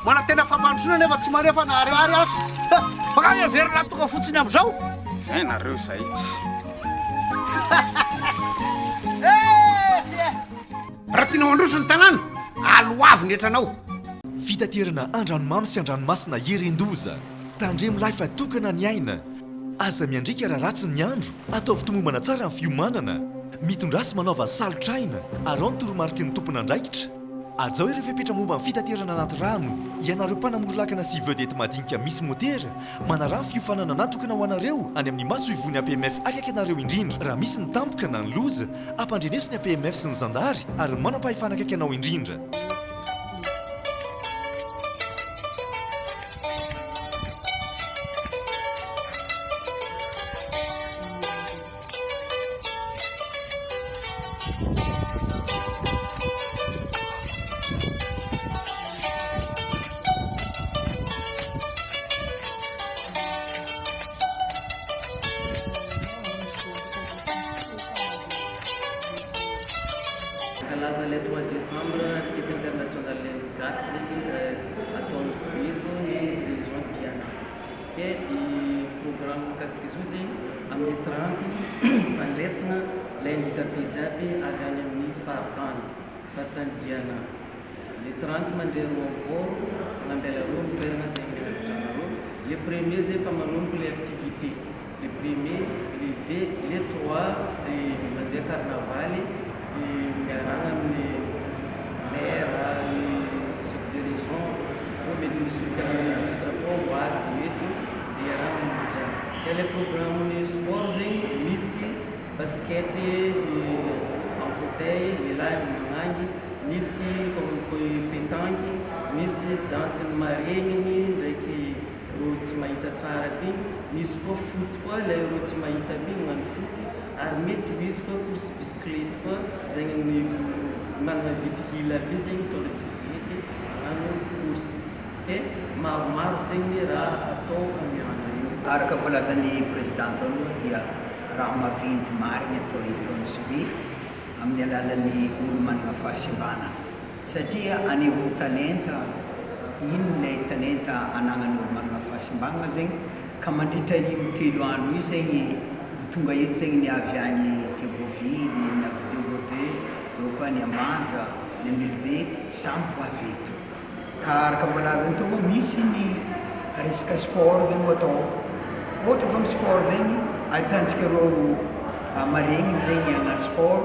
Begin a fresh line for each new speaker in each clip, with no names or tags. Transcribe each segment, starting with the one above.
Mbola tena fampandrosoana nefa tsy maneho fa naharihary aho. Makany e, very latonga fotsiny amin'izao. Izay nareo
izay tsy.
Raha tianao handroso ny tanàna, aloavy ny hetranao. Fitaterana
andranomamy sy andranomasina hirin-doza. Tandremo lahy fa tokana ny aina. Aza miandriaka raha ratsy ny andro, ataovy tomombana tsara ny fiomanana. Mitondrasy manaova salotr'aina, araho ny toromariky ny tompon'andraikitra. Hajao ireo fepetra momba ny fitaterana anaty rano, ianareo mpanamory lakana sy vedette madinika misy motera, manaraha ny fiofanana natokana ho anareo any amin'ny masoivohon'ny APMF akaiky anareo indrindra, raha misy ny tampoka na ny loza, ampandreneso ny APMF sy ny zandary ary ny manam-pahefana akaiky anao indrindra.
Hankalaza le trois décembre fety internationale ny daty atao amin'ny sivily ny dirigeants Diana. dia ny programme mikasika izao izay amin'ny tranty fandresina ilay handikape jiaby avy any amin'ny faritany, faritany Diana. Le tranty mandre roapolo mandeha laroa ny toerana izay mirakitra anareo. Le premier izay efa manomboka ilay activité. le premier, le deux, le trois dia mandeha carnavaly dia miaragna amin'ny maire, ny chef de région, koa mety misy olompiana ministre koa ho avy dia mety dia iarahana manao izany. Dia le programme ny sport zegny dia misy basket ny en fauteuil ny lahy amin'ny magnangy, misy comme koa i petanque, misy danse ny maregniny ndraiky. Rojo tsy mahita tsara ty misy koa foot koa ilay rojo tsy mahita ty magnano foot ary mety ho hisy koa course bicyclette koa zegny ny managna vide hila be zegny mitondra bicyclette magnano course dia maromaro zegny ny raha atao amin'ny andro io. Araka voalazan'ny
Président tao aloha dia raha maventy marigny atao eto amin'ny Swift amin'ny alalan'ny olo managna fahasimbana. Satria anehoa talenta, inona ilay talenta anagnan'olo manana fahasimbanana zegny, ka mandritra io telo andro io zegny ho tonga eto zegny ny avy any Tegoville, ny avy any Tegobe, eo koa ny Ambanja, ny Ambilobe, samy ho avy eto. Ka araka mbola azon'ny tompo misy ny resaka sport zegny ho atao, ohatra fa amin'ny sport zegny ahitantsika reo maregniny zegny agnaty sport,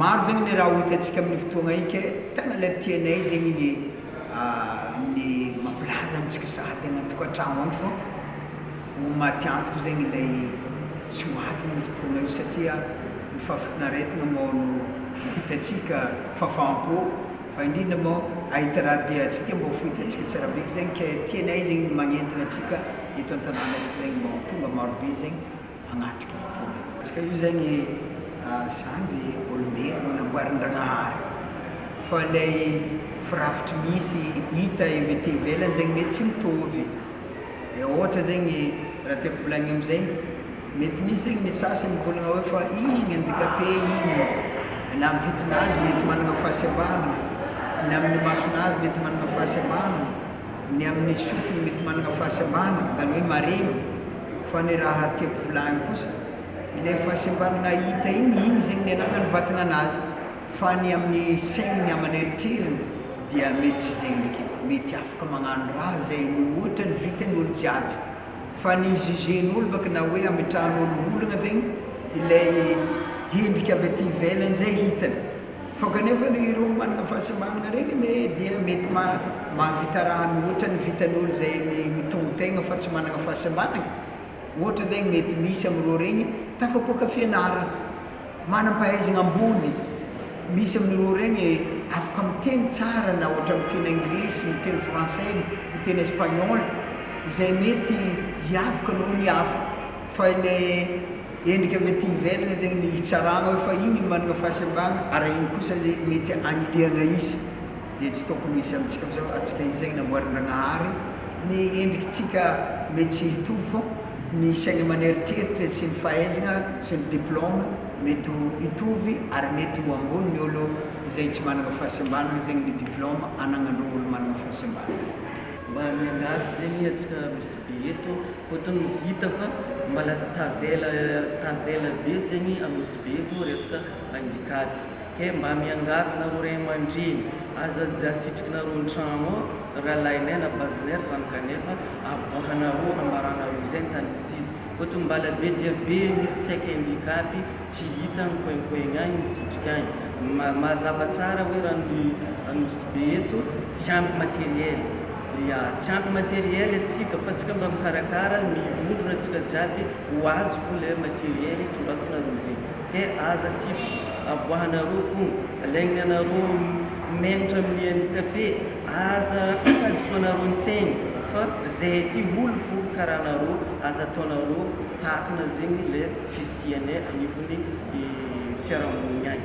Maro zegny ny raha ho hitantsika amin'ny fotoagna ika e, tena le tianay zegny ny ny mampilarina amintsika sahady any an-tokantragno any fô ho maty antoko zegny ilay tsy ho avy io fotoagna io satria ny fahafinaretagna moa no hitantsika, fahafaham-po fa indrindra moa ahita raha diantsika mbô fo hitantsika tsara be, ke zegny ke tianay zegny ny magnentagna antsika eto an-tanàna eto zegny mbô ho tonga marobe zegny. agnaty baiboly. Ka io zany zany le olombelona namboarindragnahary fa ilay firafitry misy hita ety ivelany zegny mety tsy mitovy e ohatra zegny raha tiako volagnina amizay mety misy zegny ny sasany mivolagna hoe fa igny handicapé igny na amin'ny vidignazy mety managna fahasembanana na amin'ny masonazy mety managna fahasembanana ny amin'ny sofiny mety manana fahasembanana, izany hoe mareny, fa ny raha tiako volagny kosa, ilay fahasembanana hita igny, igny zegny ny anarany vatagna anazy, fa ny amin'ny saigny, ny aman'ny eritreriny dia mety tsy zegny eky, mety afaka magnano raha zay mihoatra ny vitan'ny olo jiaby, fa ny hi-jugen'olo baka na hoe hametrahan'olo olagna zegny ilay endrika avy aty ivelany zay hitany. Fa kanefa anie ireo manana fahasembanana ireny anie dia mety mahavita raha mihoatra ny vitan'ny olona izay mitombon-tegna fa tsy manana fahasembanana, ohatra ve ny mety misy amin'ireo ireny tafapoaka fianarana, manam-pahaizana ambony, misy amin'ireo ireny afaka miteny tsara na ohatra ny miteny anglisy, miteny frantsay, miteny espaniola izay mety hiavaka noho ny hafa. Fa ilay endrika mety hiverina izay no hitsarana hoe fa iny no manana fahasembanana ary iny kosa ilay mety hanilihana izy dia tsy tokony hisy amintsika amin'izao atsika izay namboarin'dragnahary ny endrikitsika mety tsy hitovy fa ny saina aman'eritreritra sy ny fahaizana sy ny diplôme mety ho hitovy ary mety ho ambony ny olo izay tsy manana fahasembanana zegny ny diplôme anagnan'ireo olo manana fahasembanana mba
miangavy zegny atsika. Dia eto ohatran'ny ho hita fa mbola tavela tavela be zegny a Nosy Be eto resaka angitady. Kay mba miangavy nareo ray aman-dreny, aza aza asitrikinareo an-tragno ao rahalahinay na vadinay ry zany kanefa aboahanareo ambaranareo izay ny tany misy izy. Ohatry ny mbala be dia be mihitsy tsy aika ingika aby tsy hita agny koinkoigny agny ny sitrika agny. Mazava tsara hoe raha ny Nosy Be eto tsy ampy matériel. dia tsy ampy materiel antsika fa tsika mba mikarakara ny vondrona tsika jiaby ho azo fony le materiel tondrasinareo zay de aza sitry aboahanareo fony alaigny anareo menitra amin'ny handicapé aza hadisoanareo ntsegny fa zay aty olo fo karaha anareo aza ataonareo sakana zegny le fisiane anivon'ny fiarahamonigny any.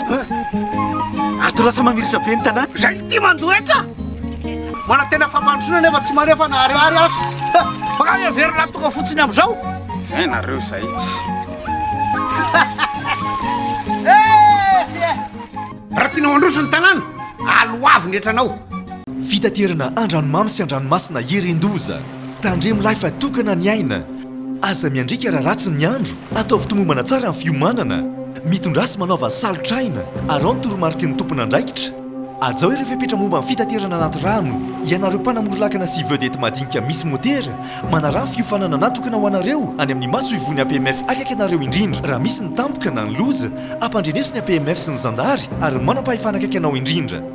Ato lasa mamiritra be ny tanàna. Zay ty mandoa eto
a! Mana tena fampandrosoana nefa tsy maneho fa nahareo ary azo. Baka heverina tonga fotsiny amizao. Zay nareo
zay tsy.
Raha tianao handroso ny tanàna, aloavy ny etranao. Fitaterana
andranomamy sy andranomasina herin-doza. Tandremolahy fa tokana ny aina. Aza miandriaka raha ratsy ny andro. Ataovy tomombana tsara ny fiomanana. Mitondrà sy manaova salotr'aina. Araho ny toromariky ny tompon'andraikitra. Hajao ireo fepetra momba ny fitaterana anaty rano. Ianareo mpanamory lakana sy vedety madinika misy motera, manaraha ny fiofanana natokana ho anareo any amin'ny masoivohon'ny APMF akaiky anareo indrindra. Raha misy ny tampoka na ny loza, ampandreneso ny APMF sy ny zandary ary ny manampahefana akaiky anao indrindra.